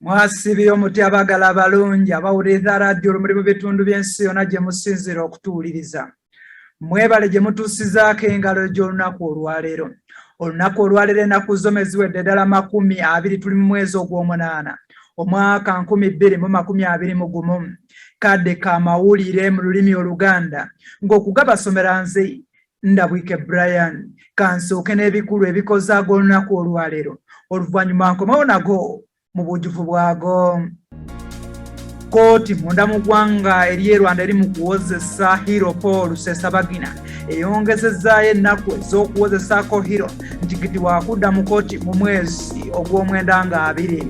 mwasibye omuti abagala abalungi abawuliriza radiyo olumuli mu bitundu by'ensi yonna gye musinziira okutuwuliriza mwebale gye mutuusizaako engalo gy'olunaku olwaleero olunaku olwaleero enaku zoma eziwedde ddala makumi abiri tuli mu mwezi ogw'omunaana omwaka nkumi bbiri mu makumi abiri mu gumu kadde ka mawulire mu lulimi oluganda ng'okugabasomera nze Ndabwike Brian kansooke n'ebikulu ebikoze ag'olunaku olwaleero oluvannyuma nkomewo nago mu bujjuvu bwago kkooti munda mu ggwanga ery'e rwanda eri mu kuwozesa hiro paul rusesabagina eyongezezaayo ennaku ez'okuwozesaako hiro nti kiti wakudda mu kkooti mu mwezi ogw'omwenda nga abiri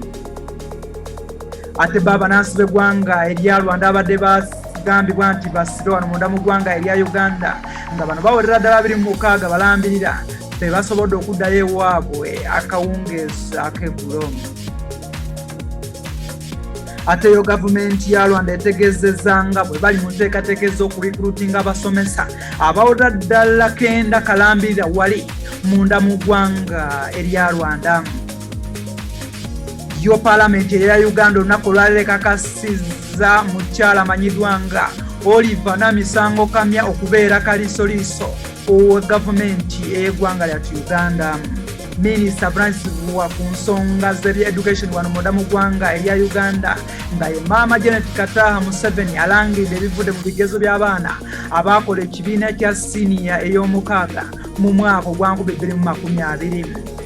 ate ba banansi b'eggwanga erya rwanda abadde bagambibwa nti basire wano munda mu ggwanga erya uganda nga bano bawerera ddala biri mu mukaaga balambirira be basobodde okuddayo ewaabwe akawungeezi ak'eggulo ate yo gavumenti ya rwanda etegezeza nga bwe bali mu nteekateeka ez'okurikrutinga abasomesa abawera ddala kenda kalambirira wali munda mu ggwanga erya rwandamu yo palamenti eya uganda olunaku olwalero ekakasiza mukyala amanyiddwa nga oliver namisango kamya okubeera kalisoliiso owa gavumenti eyegwanga lyatu uganda minisita francis vuwa ku nsonga zebya education wano munda mu gwanga erya uganda nga ye maama janet kataha museveni alangirira ebivudde mu bigezo by'abaana abaakola ekibiina kya siniya ey'omukaaga mu mwaka ogwankubibiri mu makumi abiri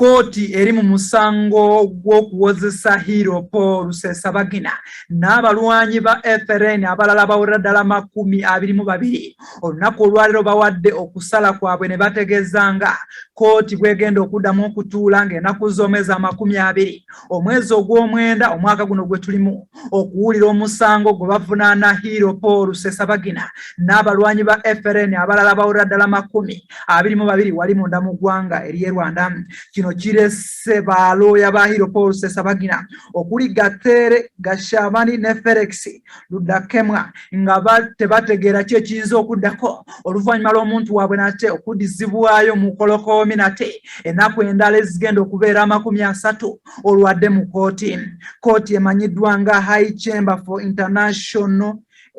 kkooti eri mu musango gw'okuwozesa hiiro paul rusesabagina n'abalwanyi ba frn abalala bawera ddala makumi abiri mu babiri olunaku olwaliro bawadde okusala kwabwe ne bategeeza nga kkooti bwegenda okuddamu okutuula ng'enaku z'omwezi amakumi abiri omwezi ogw'omwenda omwaka guno gwe tulimu okuwulira omusango gwe bavunaana hiiro paul sesabagina n'abalwanyi ba frn abalala bawulira ddala makumi abiri mu babiri wali munda mu ggwanga ery'e rwanda kino kirese balooya ba hiiro paul sesabagina okuli gatere gashabani ne felix ludakemwa nga tebategeera ki ekiyinza okuddako oluvannyuma lw'omuntu waabwe nate okuddizibwayo mu kolokoomi nate ennaku endala ezigenda okubeera amakumi asatu olwadde mu kooti kooti emanyiddwa nga high chamber for international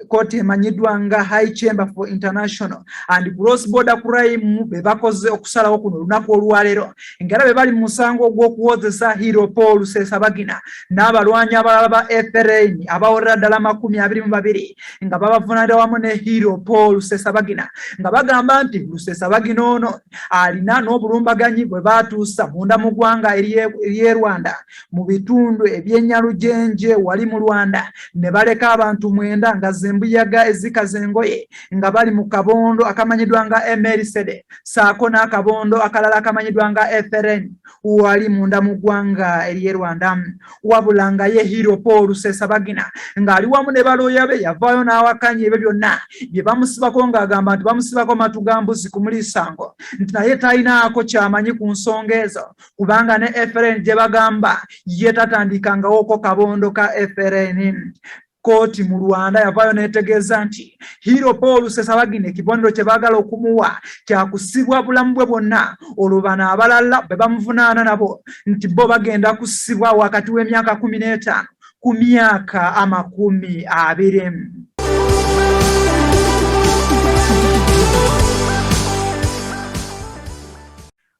kooti emanyiddwa nga high chamber for international and cross border crime be bakoze okusalawo kuno olunaku olwaleero ngera be bali mu musango ogw'okuwozesa hero paul rusesabagina n'abalwanyi abalala ba frn abawerera ddala amakumi abiri mu babiri nga babavunanira wamu ne hero paul rusesabagina nga bagamba nti rusesabagina ono alina n'obulumbaganyi bwe baatuusa munda mu ggwanga ery'e Rwanda mu bitundu ebyenyalujenje wali mu Rwanda ne baleka abantu mwenda nga zembuyaga ezikaza engoye nga bali mu kabondo akamanyiddwa nga Emerisede saako n'akabondo akalala akamanyiddwa nga Eferen wali munda mu ggwanga ery'e Rwanda wabula nga ye Hero Paul Rusesabagina ng'ali wamu ne balooya be yavaayo n'awakanya ebyo byonna bye bamusibako ng'agamba nti bamusibako matu ga mbuzi ku muliisango nti naye talinaako kyamanyi ku nsonga ezo kubanga ne FLN gye bagamba ye tatandikangawooko kabondo ka FLN Kkooti mu Rwanda yavaayo n'etegeeza nti Hero Paul Rusesabagina ekibonero kye baagala okumuwa kya kusibwa bulamu bwe bwonna olwo bano abalala be bamuvunaana nabo nti bo bagenda kusibwa wakati w'emyaka kumi n'etaano ku myaka amakumi abiri.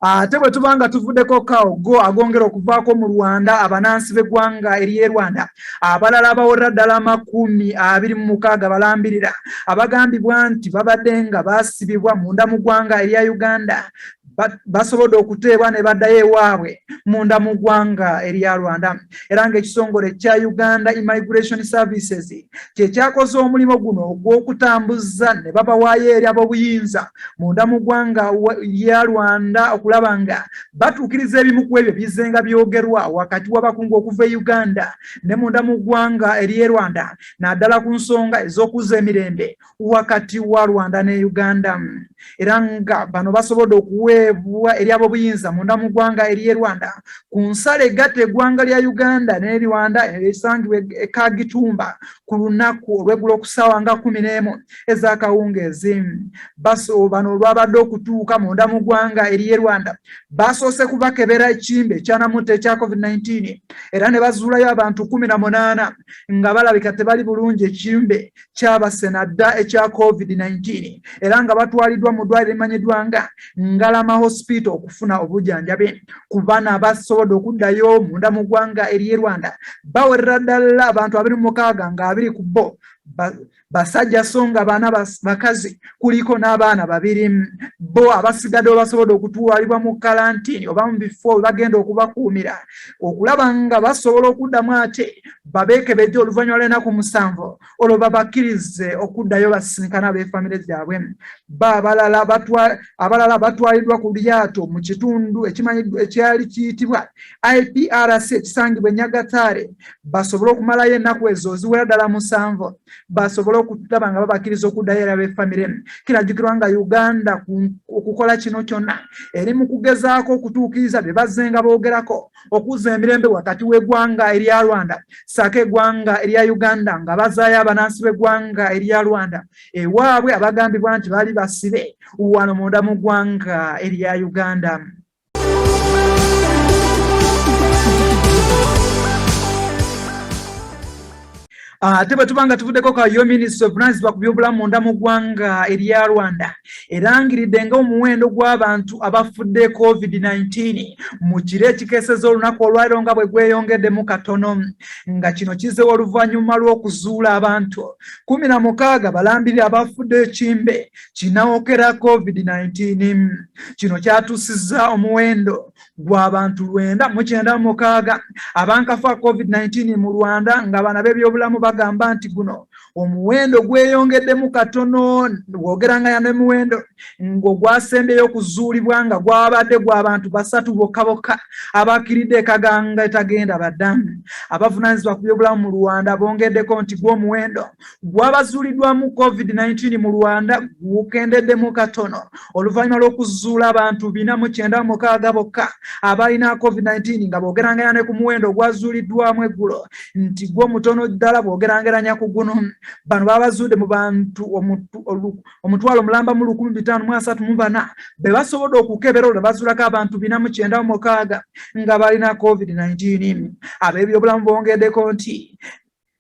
ate bwe tuba nga tuvudeko kawo go agongera okuvaako mu rwanda abanansi b'eggwanga eriye rwanda abalala abawerera ddala amakumi abiri mu mukaaga balambirira abagambibwa nti babadde nga basibibwa munda mu ggwanga erya uganda basobodde okuteebwa ne baddayo ewaabwe munda mu ggwanga erya rwanda era ng'ekitongole kya uganda immigration services kye kyakoze omulimu guno ogw'okutambuza ne babawaayo eri ab'obuyinza munda mu ggwanga ya rwanda okulaba nga batuukiriza ebimu ku ebyo bizenga byogerwa wakati w'abakungu okuva e uganda ne munda mu ggwanga ery'e rwanda naddala ku nsonga ez'okuzza emirembe wakati wa Rwanda ne Uganda era nga bano basobodde okuweebwa eri ab'obuyinza munda mu ggwanga ery'e Rwanda ku nsalo egatta eggwanga lya Uganda ne Rwanda erisangibwa e Kagitumba ku lunaku olw'eggulo ku ssaawa nga kumi n'emu ez'akawungeezi. Baso bano olwabadde okutuuka munda mu ggwanga ery'e Rwanda baasoose kubakebera ekimbe ekyanamutta ekya COVID-19 era ne bazuulayo abantu kumi na munaana nga balabika tebali bulungi ekimbe kyabase na dda ekya covid-19 era nga batwaliddwa mu ddwaliro emanyiddwa nga ngalama hospital okufuna obujanjabi ku bana abasobodde okuddayo munda mu ggwanga ery'e rwanda bawerera ddala abantu abiri mu mukaaga nga abiri ku bo basajja so nga baana bakazi kuliko n'abaana babiri bo abasigadde basobodde okutwalibwa mu kalantini oba mu bifo webagenda okubakuumira okulaba nga basobola okuddamu ate babeekebejje oluvannyuma lw'ennaku musanvu olwo babakkirize okuddayo basisinkana ab'efamire zaabwe ba abalala batwaliddwa ku lyato mu kitundu ekimanyiddwa ekyali kiyitibwa iprc ekisangibwa enyagataare basobole okumalayo ennaku ezo oziwera ddala musanvu basobole okulaba nga babakkiriza okuddayo era b'efamire kirajukirwa nga uganda okukola kino kyonna eri mu kugezaako okutuukiriza bye bazzenga boogerako okuza emirembe wakati w'eggwanga erya Rwanda saako eggwanga erya Uganda nga bazaayo abanansi b'eggwanga erya Rwanda ewaabwe abagambibwa nti baali basibe wano munda mu ggwanga erya Uganda. Ah, ate bwe tuba nga tuvuddeko ka yo minisita ovunaanyizibwa ku byobulamu munda mu ggwanga erya rwanda erangiridde nga omuwendo gw'abantu abafudde covid-19 mu kiro ekikeeseza olunaku olwaliro nga bwe gweyongeddemu katono nga kino kizewa oluvannyuma lw'okuzuula abantu kumi na mukaaga balambirira abafudde ekimbe kinawokera covid-19 kino kyatuusizza omuwendo gw'abantu lwenda mu kyenda mu mukaaga abankafa covid-19 mu rwanda nga bana b'ebyobulamu bagamba nti guno omuwendo gweyongeddemu katono wogera nga yano emiwendo ng'ogwasembyeyo okuzuulibwa nga gwabadde gw'abantu basatu bokka bokka abakiridde ekaganga etagenda baddamu abavunaanyizibwa ku byobulamu mu rwanda bongeddeko nti gw'omuwendo gwabazuuliddwamu covid-19 mu rwanda gukendeddemu katono oluvannyuma lw'okuzuula abantu bina mu kyenda mu mukaaga bokka abalina covid-19 nga boogerangeranya ne ku muwendo ogwazuuliddwamu eggulo nti gwo mutono ddala boogerangeranya ku guno bano babazuudde mu bantu omutwalo omulamba mu lukumi bitaano mu asatu mu bana be basobodde okukebera olwo bazuulako abantu bina mu kyenda mu mukaaga nga balina covid-19 ab'ebyobulamu bongeddeko nti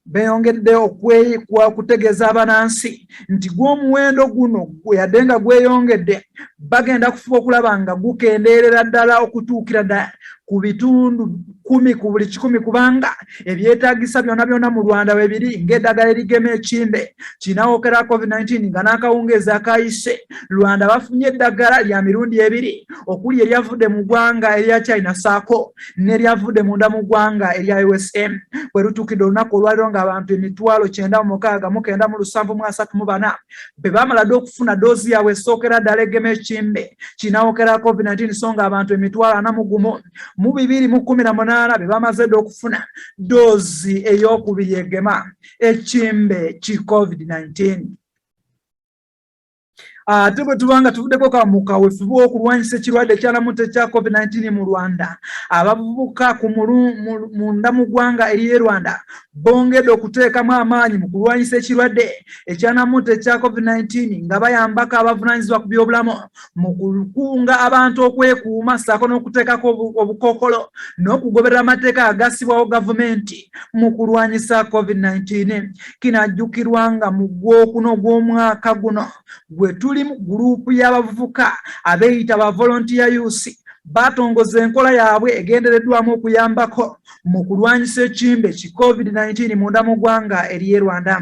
Beeyongedde okutegeeza abanansi nti gw'omuwendo guno yadde nga gweyongedde bagenda kufuba okulaba nga gukendeerera ddala okutuukira ddala ku bitundu kumi ku buli kikumi kubanga ebyetaagisa byona byona mu Rwanda we biri ng'eddagala erigema ekimbe kinawookera COVID-19 nga n'akawungeezi akayise Rwanda bafunye eddagala lya mirundi ebiri okuli eryavudde mu ggwanga erya China saako neryavudde munda mu ggwanga erya usa bwe lutuukidde olunaku olwaliro ng'abantu emitwalo kyenda mu mukaaga mu kenda mu lusanvu mu asatu mu bana be baamala dde okufuna doozi yaabwe esookera ddala egema ekimbe kinaawokera covid-19 so nga abantu emitwalo ana mu gumu mu bibiri mu kumi na munaana be bamaze dde okufuna doozi ey'okubiri egema ekimbe ki covid-19 ate ah, bwe tuba nga tuvuddeko ka mu kawefube okulwanyisa ekirwadde ekyalamuta ekya covid-19 mu rwanda abavubuka ku munda mu ggwanga eriye rwanda bongedde okuteekamu amaanyi mu kulwanyisa ekirwadde ekyanamuta ekya covid-19 nga bayambako abavunanyizibwa ku byobulamu mu kukunga abantu okwekuuma saako n'okuteekako obukokolo n'okugoberera amateeka agassibwawo gavumenti mu kulwanyisa covid-19 kinajjukirwa nga mu gwokuna ogw'omwaka guno gwe tuli mu guruupu y'abavubuka abeeyita ba volontiya yusi batongoza enkola yaabwe egendereddwamu okuyambako mu kulwanyisa ekimbe ki covid-19 munda mu ggwanga ery'e rwanda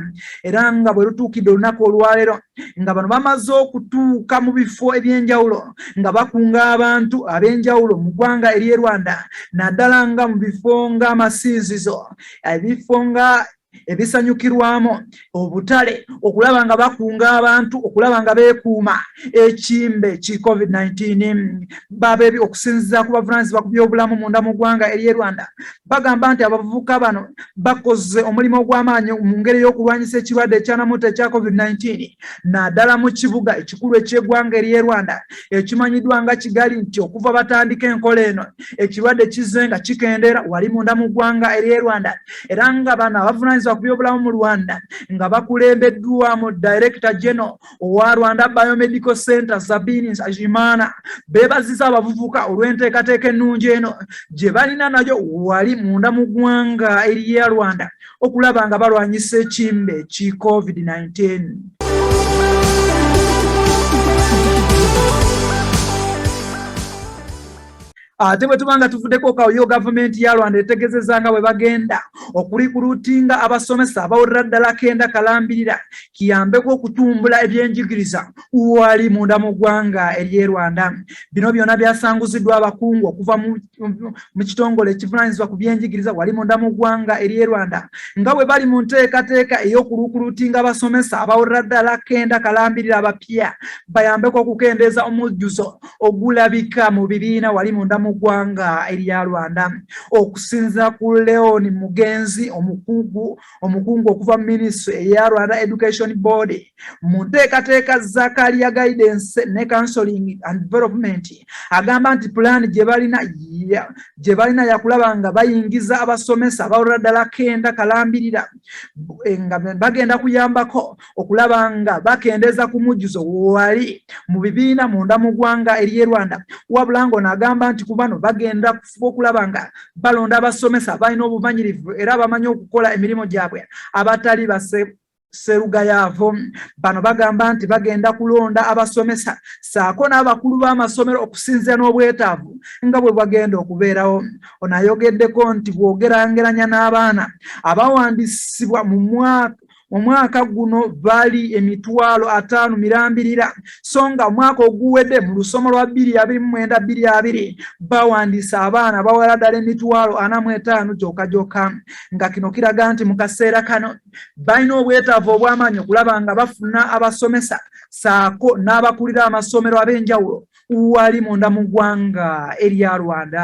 era nga bwe lutuukidde olunaku olwaleero nga bano bamaze okutuuka mu bifo eby'enjawulo nga bakunga abantu ab'enjawulo mu ggwanga ery'e rwanda naddala nga mu bifo ng'amasiizizo ebifo nga ebisanyukirwamu obutale okulaba nga bakunga abantu okulaba nga beekuuma ekimbe ki covid-19 babebi okusinziza ku bavunanyizibwa ku byobulamu munda mu ggwanga ery'e rwanda bagamba nti abavubuka bano bakoze omulimu ogw'amaanyi mu ngeri y'okulwanyisa ekirwadde ekyanamuta ekya covid-19 naddala mu kibuga ekikulu eky'eggwanga ery'e rwanda ekimanyiddwa nga kigali nti okuva batandika enkola eno ekirwadde kizze nga kikendeera wali munda mu ggwanga ery'e rwanda era nga bano abavunanyizibwa ku byobulamu mu rwanda nga bakulembeddwamu director general owa rwanda biomedical center sabini nsajimana bebaziza abavuvuka olw'enteekateeka ennungi eno gye balina nayo wali munda mu ggwanga eriya rwanda okulaba nga balwanyisa ekimbe ki covid-19 Thank you. ate bwe tuba nga tuvuddeko kaoyo gavumenti ya rwanda etegezeza nga bwe bagenda okulikulutinga abasomesa abawulira ddala kenda kalambirira kiyambeko okutumbula ebyenjigiriza wali munda mu ggwanga ery'e rwanda bino byonna byasanguziddwa abakungu okuva mu kitongole ekivunanyizibwa ku byenjigiriza wali munda mu ggwanga ery'e rwanda nga bwe bali mu nteekateeka ey'okuluukulutinga abasomesa abawulira ddala kenda kalambirira abapya bayambeko okukendeeza omujjuzo ogulabika mu bibiina wali munda mu ggwanga erya Rwanda. Okusinzira ku Leon Mugenzi omukugu omukungu okuva mu minisitule eya Rwanda Education Board mu nteekateeka za Kalia Guidance ne Counseling and Development agamba nti pulaani gye balina gye balina yakulaba nga bayingiza abasomesa abalala ddala kenda kalambirira eh, nga bagenda kuyambako okulaba nga bakendeeza ku mujjuzo wali mu bibiina munda mu ggwanga ery'e Rwanda wabula ng'ono agamba nti ku bano bagenda kufuba okulaba nga balonda abasomesa abalina obumanyirivu era abamanyi okukola emirimu gyabwe abatali base Sserugayaavu bano bagamba nti bagenda kulonda abasomesa saako n'abakulu b'amasomero okusinzira n'obwetaavu nga bwe bagenda okubeerawo. Ono ayogeddeko nti bw'ogerangeranya n'abaana abawandiisibwa mu mwaka omwaka guno bali emitwalo ataano mirambirira so nga omwaka oguwedde mu lusomo lwa bbiri abiri mu mwenda bbiri abiri bawandiisa abaana bawera ddala emitwalo ana mu etaano gyoka gyoka nga kino kiraga nti mu kaseera kano balina obwetaavu obw'amaanyi okulaba nga bafuna abasomesa saako n'abakulira amasomero ab'enjawulo wali munda mu ggwanga erya rwanda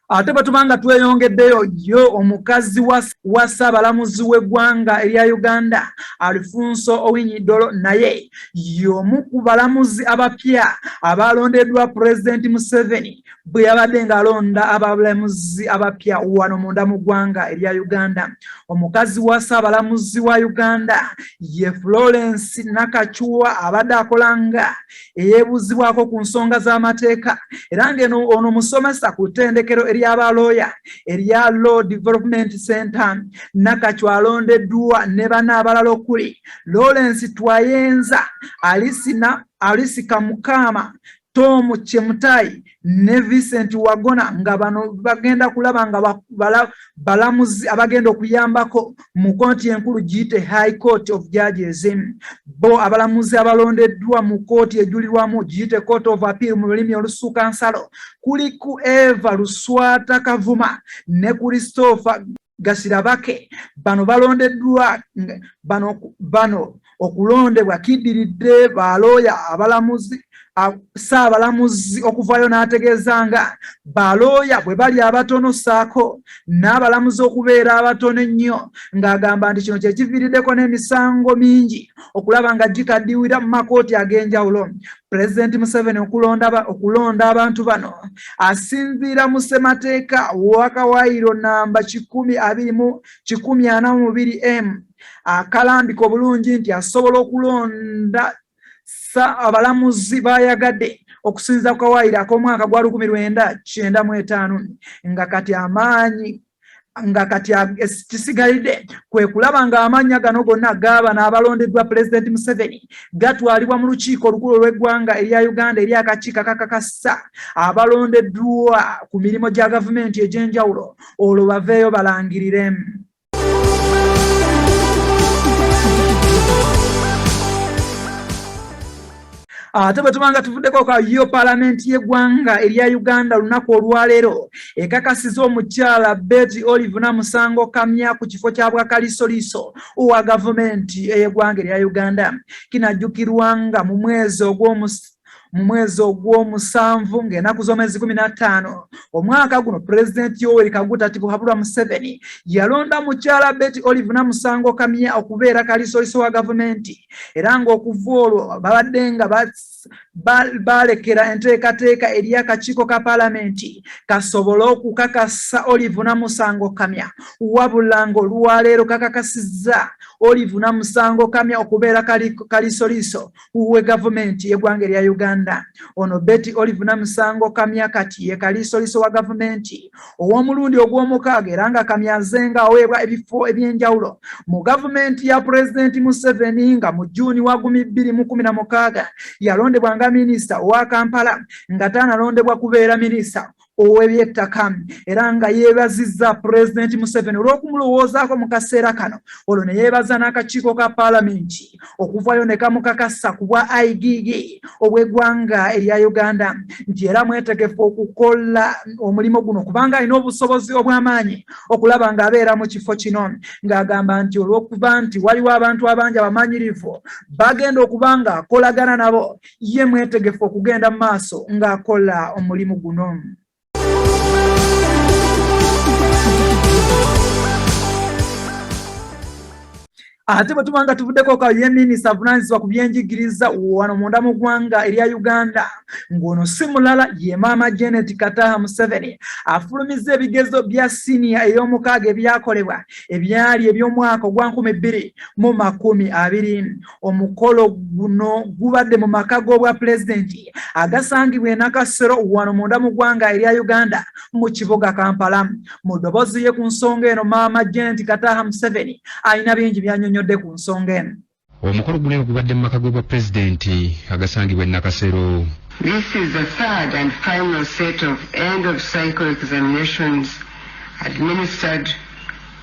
ate bwe tuba nga tweyongeddeyo yo omukazi wa ssaabalamuzi w'eggwanga erya uganda alfonso owinyidolo naye y'omu ku balamuzi abapya abaalondeddwa pulezidenti museveni bwe yabadde ng'alonda abalamuzi abapya wano munda mu ggwanga erya uganda omukazi wa ssaabalamuzi wa uganda ye florence nakacuwa abadde akola nga eyeebuuzibwako ku nsonga z'amateeka era ng'eno ono musomesa ku ttendekero ery'abalooya erya law development center nakacuwa alondeddwa ne bana abalala okuli lawrence twayenza alisina alisika mukaama Tom Chemutai ne Vincent Wagona nga bano bagenda kulaba nga balamuzi abagenda okuyambako mu kooti enkulu giyite High Court of Judges. Bo abalamuzi abalondeddwa mu kooti ejulirwamu giyite Court of Appeal mu lulimi olusuuka nsalo kuliku Eva Luswata Kavuma ne Christopher gasirabake bano balondeddwa bano bano okulondebwa kiddiridde balooya abalamuzi ssaabalamuzi okuvaayo n'ategeeza nga balooya bwe bali abatono ssaako n'abalamuzi okubeera abatono ennyo ng'agamba nti kino kye kiviiriddeko n'emisango mingi okulaba nga gikaddiwira mu makooti ag'enjawulo pulezidenti museveni okulonda abantu bano asinziira mu ssemateeka wakawaayiro namba kikumi abiri mu kikumi ana mu biri m akalambika obulungi nti asobola okulonda sa abalamuzi baayagadde okusinza ku kawaayiro ak'omwaka gwa lukumi lwenda kyenda mu etaano nga kati amaanyi nga kati kisigalidde kwe kulaba ng'amannya gano gonna gaaba n'abalondeddwa pulezidenti museveni gatwalibwa mu lukiiko olukulu olw'eggwanga erya uganda eri akakiiko akakakasa abalondeddwa ku mirimu gya gavumenti egy'enjawulo olwo baveeyo balangiriremu ate bwe tuba nga tuvuddeko ka yo palamenti y'eggwanga erya uganda olunaku olwaleero ekakasiza omukyala beti olive namusango kamya ku kifo kya bwakalisoliiso owa gavumenti ey'eggwanga erya uganda kinajjukirwa nga mu mwezi ogw'omus mu mwezi ogw'omusanvu ng'enaku z'omwezi kumi n'attaano omwaka guno pulezidenti yoweri kaguta ti buhabulwa museveni yalonda mukyala beti olive namusango kamya okubeera kalisoliiso wa gavumenti era ng'okuva olwo babadde nga baalekera enteekateeka eri akakiiko ka palamenti kasobole okukakasa olive namusango kamya wabula ng'olwaleero kakakasizza olive namusango kamya okubeera kalisoliiso we gavumenti y'eggwanga erya uganda ono beti olive namusango kamya kati ye kalisoliiso wa gavumenti ow'omulundi ogw'omukaaga era nga kamyaze nga aweebwa ebifo eby'enjawulo mu gavumenti ya pulezidenti museveni nga mu juuni wa gumi bbiri mu kumi na mukaaga yalondebwa nga minisita owa kampala nga tanalondebwa kubeera minisita ow'ebyettaka era nga yeebazizza pulezidenti museveni olw'okumulowoozaako mu kaseera kano olwo ne yeebaza n'akakiiko ka paalamenti okuvayo ne kamukakasa ku bwa igigi obw'eggwanga erya uganda nti era mwetegefu okukola omulimu guno kubanga alina obusobozi obw'amaanyi okulaba ng'abeera mu kifo kino ng'agamba nti olw'okuba nti waliwo abantu abangi abamanyirivu bagenda okuba ng'akolagana nabo ye mwetegefu okugenda mu maaso ng'akola omulimu guno ate bwe tuba nga tuvuddeko ka ye minisita avunaanyizibwa ku byenjigiriza wano munda mu ggwanga erya uganda ng'ono si mulala ye maama janet kataha museveni afulumizza ebigezo bya siniya ey'omukaaga ebyakolebwa ebyali eby'omwaka ogwa nkumi bbiri mu makumi abiri omukolo guno gubadde mu maka g'obwa pulezidenti agasangibwa enakasero wano munda mu ggwanga erya uganda mu kibuga kampala mu ddoboozi ye ku nsonga eno maama jenti kataha museveni alina bingi byanyonyodde ku nsonga eno omukolo guno eno gubadde mu maka g'obwa pulezidenti agasangibwa enakasero This is the third and final set of end of cycle examinations administered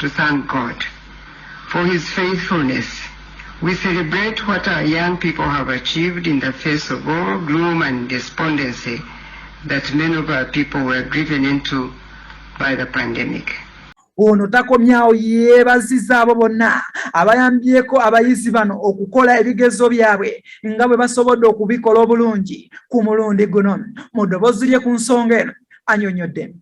to thank God for his faithfulness we celebrate what our young people have achieved in the face of all gloom and despondency that many of our people were driven into by the pandemic ono takomyawo yeebaziza abo bonna abayambyeko abayizi bano okukola ebigezo byabwe nga bwe basobodde okubikola obulungi ku mulundi guno mu ddoboozi lye ku nsonga eno anyonyodde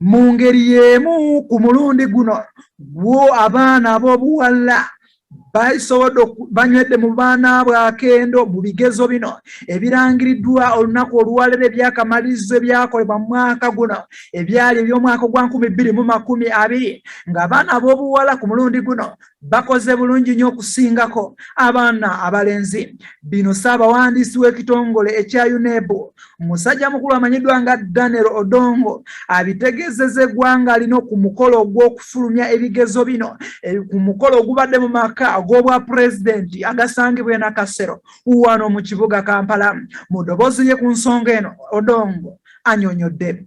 mu ngeri y'emu ku mulundi guno gwo abaana ab'obuwala basobodde banywedde mu baana bwe akendo mu bigezo bino ebirangiriddwa olunaku olwalero ebyakamalizo ebyakolebwa mu mwaka guno ebyali eby'omwaka ogwa nkumi bbiri mu makumi abiri ng'abaana ab'obuwala ku mulundi guno bakoze bulungi nnyo okusingako abaana abalenzi bino ssaabawandiisi w'ekitongole ekya uneb musajja mukulu amanyiddwa nga daniel odongo abitegeezeza eggwanga lino ku mukolo ogw'okufulumya ebigezo bino e, ku mukolo ogubadde mu maka ag'obwa pulezidenti agasangibwa enakasero wano mu kibuga kampala mu ddoboozi lye ku nsonga eno odongo anyonyodde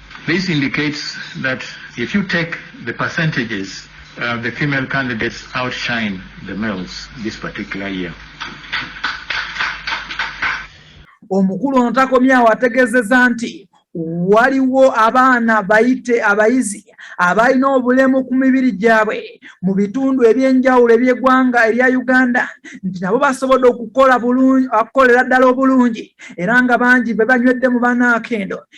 This indicates that if you take the percentages uh, the female candidates outshine the males this particular year. Omukulu ono takomyawo ategezeza nti waliwo abaana bayite abayizi abalina obulemu ku mibiri gyabwe mu bitundu eby'enjawulo eby'eggwanga erya uganda nti nabo basobodde okukola okukolera ddala obulungi era nga bangi be banywedde mu banaakendo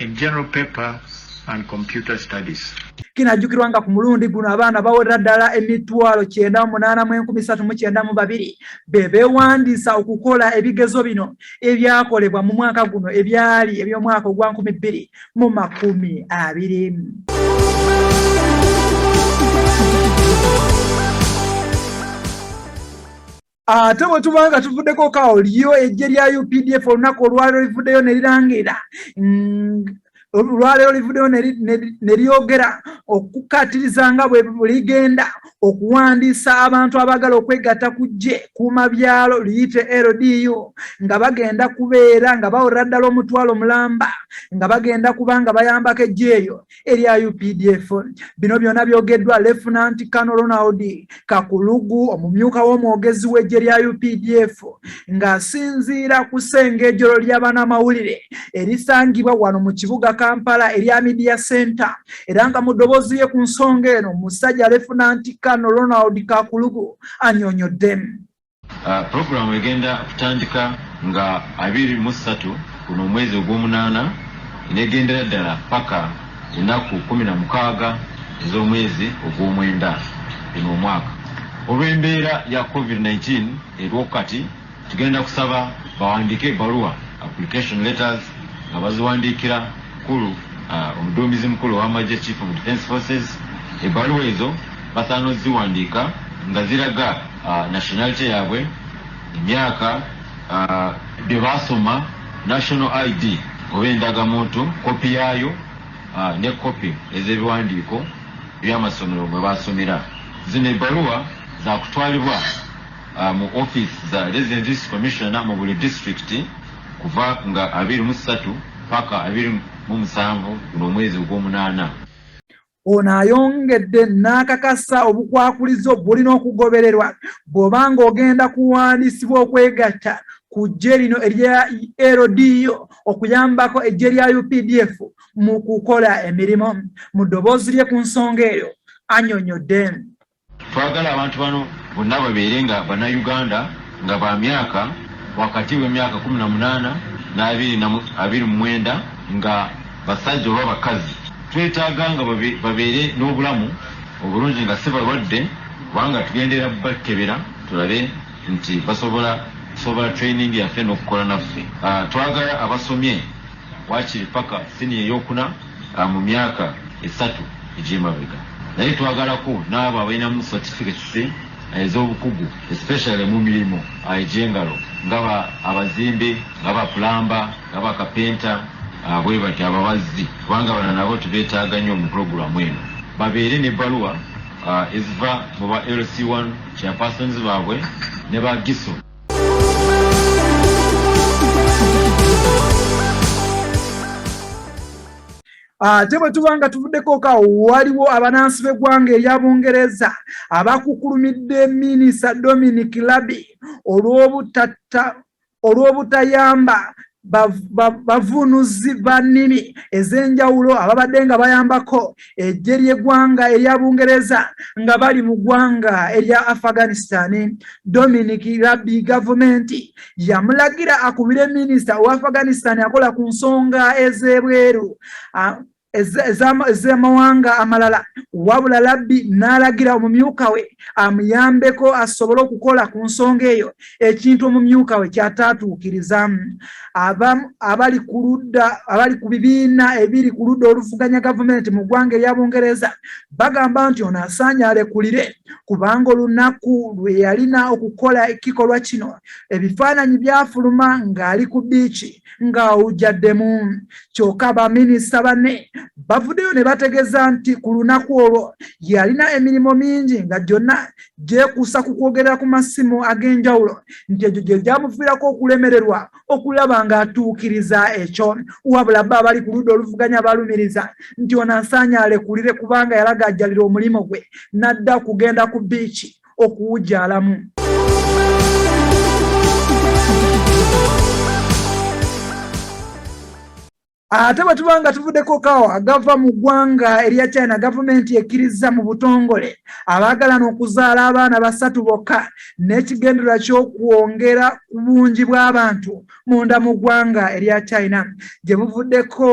in general paper and computer studies. Kinajjukirwa nga ku mulundi guno abaana bawerera ddala emitwalo kyenda mu munaana mu enkumi satu mu kyenda mu babiri be beewandiisa okukola ebigezo bino ebyakolebwa mu mwaka guno ebyali eby'omwaka ogwa nkumi bbiri mu makumi abiri. ate bwe tuba nga tuvuddeko kawo lyo ejje lya updf olunaku olwaliro livuddeyo ne lirangira olwaliro livuddeyo ne lyogera okukaatiriza nga bwe ligenda okuwandiisa abantu abaagala okwegatta ku ggye kuuma byalo liyite ldu nga bagenda kubeera nga bawerera ddala omutwalo mulamba nga bagenda kuba nga bayambako ejjeeyo erya updf bino byona byogeddwa lefunanti kano ronald kakulugu omumyuka w'omwogezi w'eggye lya updf ng'asinziira ku sengejolo ly'abanamawulire erisangibwa wano mu kibuga kampala erya media center era nga mu ddoboozi lye ku nsonga eno musajja lefunanti kano ronald kakulugu anyonyodde Pulogulaamu egenda kutandika nga abiri mu ssatu guno omwezi ogw'omunaana n'egendera ddala paka ennaku kkumi na mukaaga ez'omwezi ogw'omwenda guno omwaka. Olw'embeera ya covid nineteen eriwo kati, tugenda kusaba bawandiike ebbaluwa, application letters, nga baziwandiikira Mukulu Omuduumizi Mukulu ow'Amagye, Chief of Defence Forces, ebbaluwa ezo basaana oziwandiika nga ziraga. nationality yabwe emyaka byebasoma national id oba endagamuntu kopi yaayo ne kopi ezebiwandiiko byamasomero mwe basomera zino ebbaluwa zakutwalibwa mu office za residences commissioner mu buli district kuva nga abiri mu ssatu paka abiri mu musanvu guno omwezi ogwomunaana Ono ayongedde n'akakasa obukwakulizo bulina okugobererwa bw'oba ng'ogenda kuwandiisibwa okwegatta ku ggye lino erya LDU okuyambako eggye lya UPDF mu kukola emirimu. Mu ddoboozi lye ku nsonga eyo anyonyodde. Twagala abantu bano bonna babeere nga Bannayuganda nga ba myaka wakati w'emyaka kkumi na munaana n'abiri na abiri mu mwenda nga basajja oba bakazi. Twetaaga nga babeere n'obulamu obulungi nga si balwadde kubanga tugenderera bakebera tulabe nti basobola sobola training yaffe n'okukola naffe. Twagala abasomye. Waakiri ppaka siniya ey'okuna mu myaka esatu egy'emabega. Naye twagalako n'abo abalinamu certificates ez'obukugu especially mu mirimu egy'engalo nga ba abazimbi, nga ba pulamba, nga ba kapenta bwe batyo, ababazzi kubanga bano nabo tubeetaaga nnyo mu pulogulaamu eno babeere n'ebbaluwa eziva mu ba LC1 chairpersons baabwe ne ba GISO. ate ah, bwe tuba nga tuvuddeko ka waliwo abanansi b'eggwanga erya bungereza abakukulumidde minisita dominic labi olw'obutayamba bavunuzi ba nnimi ez'enjawulo ababadde nga bayambako eggye ly'eggwanga erya bungereza nga bali mu ggwanga erya afghanistan dominic rabbi gavumenti yamulagira akubire minisita owa afghanistan akola ku nsonga ez'ebweru ez'amawanga amalala wabula labbi n'alagira omumyuka we amuyambeko asobole okukola ku nsonga eyo ekintu omumyuka we kyataatuukiriza abali ku ludda abali ku bibiina ebiri ku ludda oluvuganya gavumenti mu ggwanga erya bungereza bagamba nti ono asaanye alekulire kubanga olunaku lwe yalina okukola ekikolwa kino ebifaananyi byafuluma ng'ali ku biiki ng'awujjaddemu kyokka baminisita banne bavuddeyo ne bategeeza nti ku lunaku olwo yalina emirimu mingi nga gyonna gyekuusa ku kwogerera ku masimu ag'enjawulo nti egyo gye gyamuviirako okulemererwa okulaba ng'atuukiriza ekyo wabula bo abali ku ludda oluvuganya balumiriza nti ono asaanye alekulire kubanga yalagajjalira omulimu gwe n'adda okugenda ku biiki okuwujalamu ate bwe tuba nga tuvuddeko kawo agava mu ggwanga erya china gavumenti ekkirizza mu butongole abaagalana okuzaala abaana basatu bokka n'ekigendererwa ky'okwongera ku bungi bw'abantu munda mu ggwanga erya china gye buvuddeko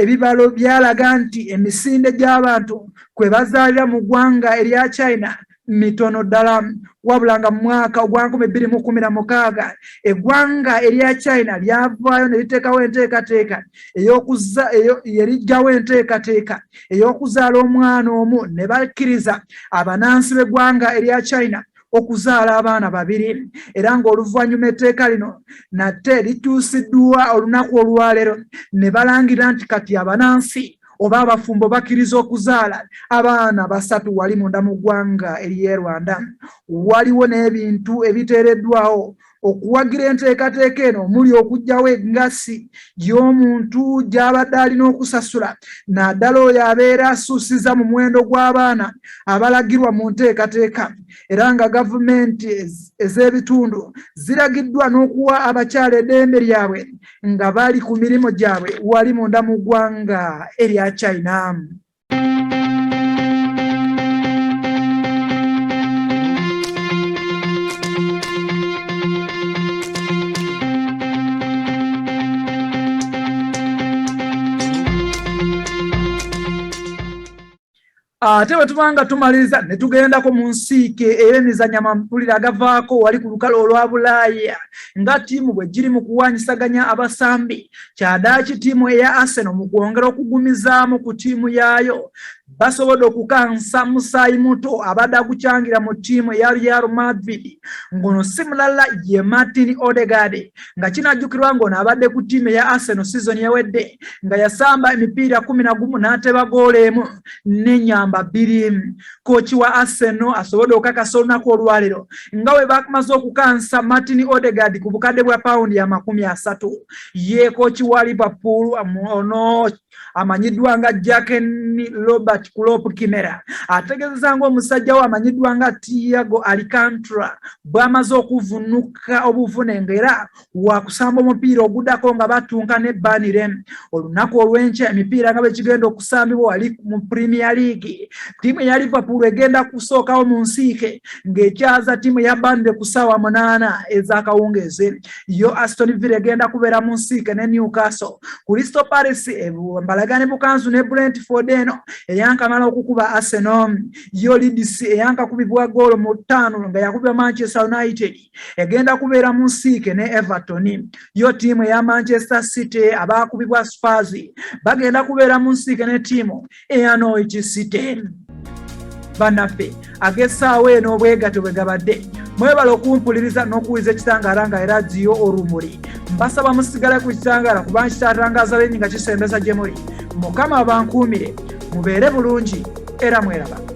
ebibalo byalaga nti emisinde gy'abantu kwe bazaalira mu ggwanga erya china mitono ddala wabula nga mu mwaka ogwa nkumi bbiri mu kumi na mukaaga eggwanga erya china lyavaayo ne liteekawo enteekateeka yeriggyawo enteekateeka ey'okuzaala omwana omu ne bakkiriza abanansi b'eggwanga erya china okuzaala abaana babiri era ng'oluvannyuma etteeka lino nate likyusiddwa olunaku olwaleero ne balangira nti kati abanansi oba abafumbo bakkiriza okuzaala abaana basatu wali munda mu ggwanga ery'e rwanda waliwo n'ebintu ebiteereddwawo okuwagira enteekateeka eno omuli okugyawo engasi y'omuntu gy'abadde alina okusasula naddala oyo abeera asuusiza mu muwendo gw'abaana abalagirwa mu nteekateeka era nga gavumenti ez'ebitundu ziragiddwa n'okuwa abakyala eddembe lyabwe nga bali ku mirimu gyabwe wali munda mu ggwanga erya china ate bwe tuba nga tumaliriza ne tugendako mu nsiike ey'emizanya mawulire agavaako wali ku lukalo olwa bulaaya nga ttiimu bwe giri mu kuwaanyisaganya abasambi kyadaaki ttiimu eya arsenal mu kwongera okugumizaamu ku ttiimu yaayo basobodde okukansa musaayi muto abadde agucangira mu ttiimu eya real madrid ng'ono si mulala ye martin odegard nga kinajjukirwa ng'ono abadde ku ttiimu eya arsenal sizoni ewedde nga yasamba emipiira kumi na gumu n'ateba goolo emu n'enyamba bbiri kooki wa Arsenal asobodde okukakasa olunaku olwaleero nga bwe bamaze okukansa Martin Odegaard ku bukadde bwa pawundi amakumi asatu. Ye kooki wa Liverpool ono amanyiddwa nga Jurgen Robert Klopp Kimera ategeezezza ng'omusajja we amanyiddwa nga Thiago Alcantara bw'amaze okuvunnuka obuvune ng'era wakusamba omupiira ogudako nga batunka ne banire olunaku olwenkya emipiira nga bwekigenda okusambibwa wali mu premier league tiimu eya liverpool egenda kusookawo mu nsiike ng'ekyaza tiimu ya banire ku ssaawa munaana ez'akawungeezi yo aston villa egenda kubeera mu nsiike ne newcastle kristo paris mbalagane bukanzu ne brentford eno eyankamala okukuba arsenal yo lidis eyankakubibwa goolo mu ttaano nga yakubibwa manchester united egenda kubeera mu nsiike ne everton yo tiimu eya manchester city abaakubibwa spars bagenda kubeera mu nsiike ne tiimu eya norwich city banaffe agessaawo eno obwegato bwe gabadde mwebala okumpuliriza n'okuwuliza ekitangaala nga era ziyo olumuli mbasaba musigale ku kitangaala kuba nkitatangaza lenyi nga kisembeza gye muli mukama abankuumire mubeere bulungi era mweraba